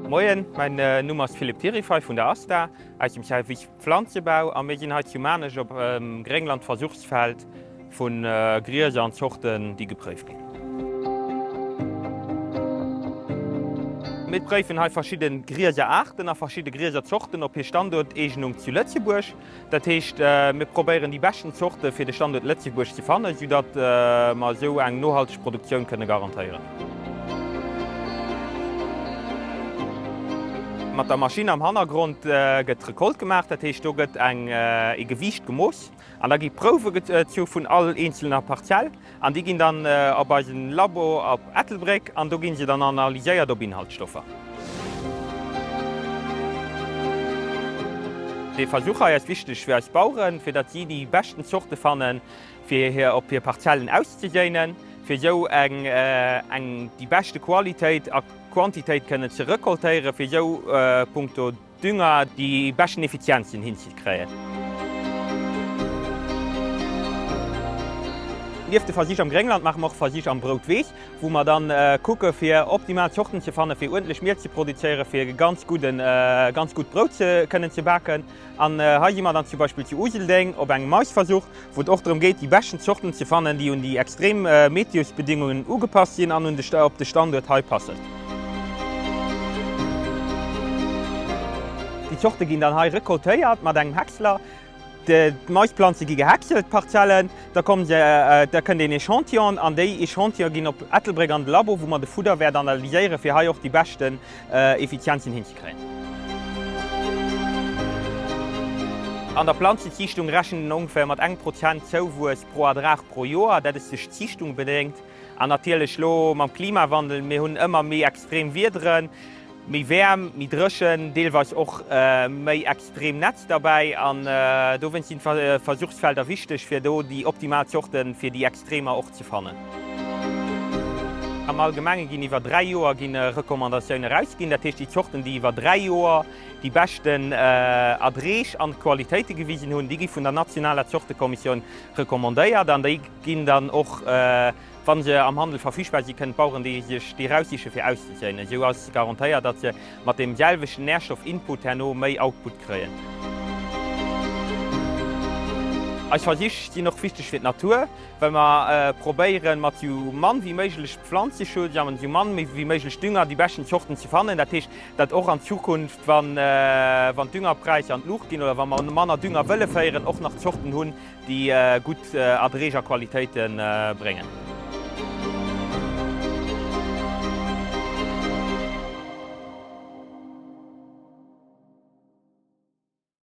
Moien, mäin Numm ass Philippe Tirifay vun der ASTA aus dem Service Pflanzebau a mir sinn hei zu Maarnech op dem Grénglandversuchsfeld vu Grieser an Zorten, déi gepréift ginn. Mir préifen hei verschidde Grieser-Aarten a verschidde Grieser-Zorten op hir Standuerteegnung zu Lëtzebuerg. Dat heescht, mir probéieren déi beschten Zorte fir de Standuert Lëtzebuerg ze fannen, esou datt mer esou eng nohalteg Produktioun kënne garantéieren. Mat der Maschinn am Hannergrond gëtt d'Recolte gemaach, dat heescht, do gëtt e Gewiicht gemooss an da gi Prouwe gezu vun all eenzelner Parzell. An déi ginn dann op eisen Labo op Ettelbréck an do ginn se dann analyséiert op Inhaltsstoffer. Dee Versuch hei ass wichteg fir eis Baueren, fir datt si déi beschten Zorte fannen fir hir op hir Parzellen auszeséinen, fir esou eng eng déi beschte Qualitéit a Quantitéit kënnen ze recoltéieren, fir esou punkto. Dünger déi beschten Effizienzen hinzekréien. Nieft de Versich am Gréngland maache mer och Versich am Broutweess, wou mer dann kucke fir optimal Zorten ze fannen, fir uerdentlech Miel ze produzéieren, fir e ganz gudden, ganz gutt Brout kënnen ze baken. An hei si mer dann zum Beispill zu Useldeng op engem Maisversuch. wou et och drëm geet déi beschten Zorten ze fannen, déi un déi extrem Meteosbedingungen ugepasst sinn an op de Standuert hei passen. Déi Zorte ginn dann hei recoltéiert mat engem Häcksler. D'Maisplanze gi gehäckselt, d'Parzellen, da kommen se, da kënnt een Echantillon an déi Echantillone ginn op Ettelbréck an de Labo, wou mer de Fudderwäert analyséieren, fir hei och déi beschten Effizienzen hinzekréien. An der Planzenziichtung rechent een ongeféier mat engem Prozent Zouwuess pro Erdrag pro Joer. Dat ass duerch d'Ziichtung bedéngt an natierlech elo mam Klimawandel. Mir hunn ëmmer méi extrem Wiederen, méi Wäerm, méi Dréchen, deelweis och méi. Streemnetz derbäi an dowéinst sinn d'Versuchsfelder wichteg, fir do déi optimal Zorte fir déi Extremer och ze fannen. Am Allgemenge ginn iwwer dräi Joer ginn Recommandatioune erausginn, dat heescht déi Zorten, déi iwwer dräi Joer déi beschten Erdreech an Qualitéite gewisen hunn, déi gi vun der nationaler Zortekommissioun recommandéiert an déi ginn dann och Wa se am Handel verfügbar si kënnen d'Baueren déi sech déi raussiche fir auszezéien. Esou ass garantéiert, datt se mat deem selwechten Nährstoff-Input herno méi Output kréien. Eis Versich sinn och wichteg fir d'Natur, well mer probéieren mat sou mann wéi méiglech Pflanzeschutz a mat sou mann wéi méiglech Dünger déi beschten Zorten ze fannen. Dat heescht, datt och an Zukunft, wann d'Düngerpräisser an d'Luucht ginn oder wa mer manner Dünger wëlle féieren, och nach Zorten hunn, déi gutt Erträg a Qualitéite bréngen.